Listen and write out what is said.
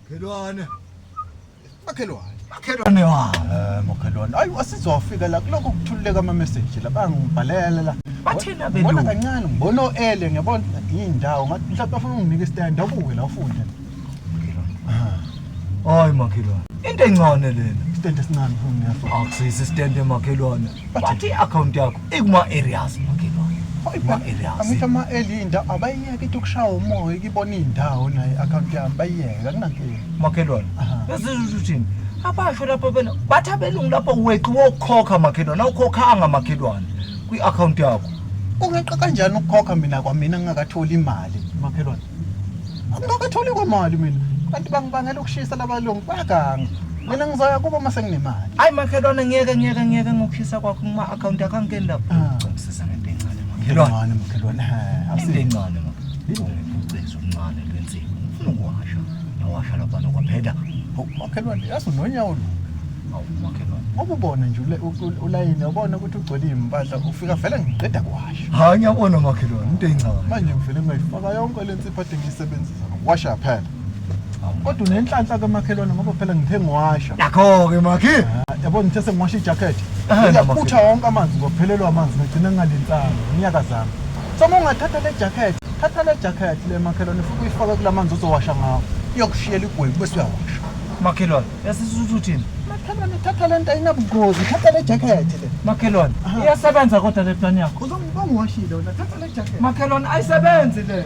Makhelwane. Makhelwane. Makhelwane wa. Eh makhelwane. Ayi wasizofika la kuloko kuthululeka ama message la bangibhalela la. Bathina belo. Bona kancane ngibona oele ngiyabona indawo ngathi mhlawumbe afuna unginike stand abuke la ufunde. Hayi makhelwane. Into encane lena. Stand esincane ngiyafuna. Akusisi stand emakhelwane. Bathi account yakho. Ikuma-areas angithi ama-eli indawo abayiyeke ithi ukushaya umoya ikibona iy'ndawo naye i-akhawunti yami bayiyeke akunankinga makhelwane esizisho uthini abasho lapho bena bathi abelungu lapho weqi wokukhokha makhelwane awukhokhanga makhelwane kwi-akhawunti yakho ungeqa kanjani ukukhokha mina kwamina ngingakatholi imali makhelwane Angibakatholi kwamali mina. Kanti bangibangela ukushisa labalungu baganga. Mina ngizoya kubo uma senginemali. Hayi makhelwane ngeke ngeke ngeke ngokushisa kwakho kuma account akho angeni lapho. Ah. Ngicela ngento encane makhelwane. Makhelwane makhelwane. Ha, Into awusi- encane makhelwane. Ucezo uncane lwensipho. Ufuna ukuwasha. Yawasha lapha nokwaphela. Hawu, makhelwane yazi unonyawo lu. Awu makhelwane. Ngoba ubona nje ule- u- u- ulayini ubona ukuthi ugcwele impahla ufika vele ngiqeda kuwasha. Hayi ngiyabona makhelwane into encane. Manje ngivele ngayifaka yonke le Siphathe ngisebenzisa washa phela. Kodwa unenhlanhla kamakhelwane ngoba phela ngithe ngiwasha. Nakho ke makhi. Yabo ngithe sengiwasha ijacket. Ngiyakutha wonke amanzi ngophelelwa amanzi ngigcina ngalintanga. Ngiyaka zami. Soma ungathatha le jacket. Thatha le jacket le makhelwane futhi uyifake kulamanzi ozowasha ngawo. Iyokushiyela igwebu bese uyawasha. Makhelwane. yasisuthi uthini makhelwane thatha le nto ayinabungozi thatha le jakhethi le makhelwane Aha. iyasebenza kodwa le plan yakho uzongibongiwashile wena thatha le jakhethi makhelwane ayisebenzi le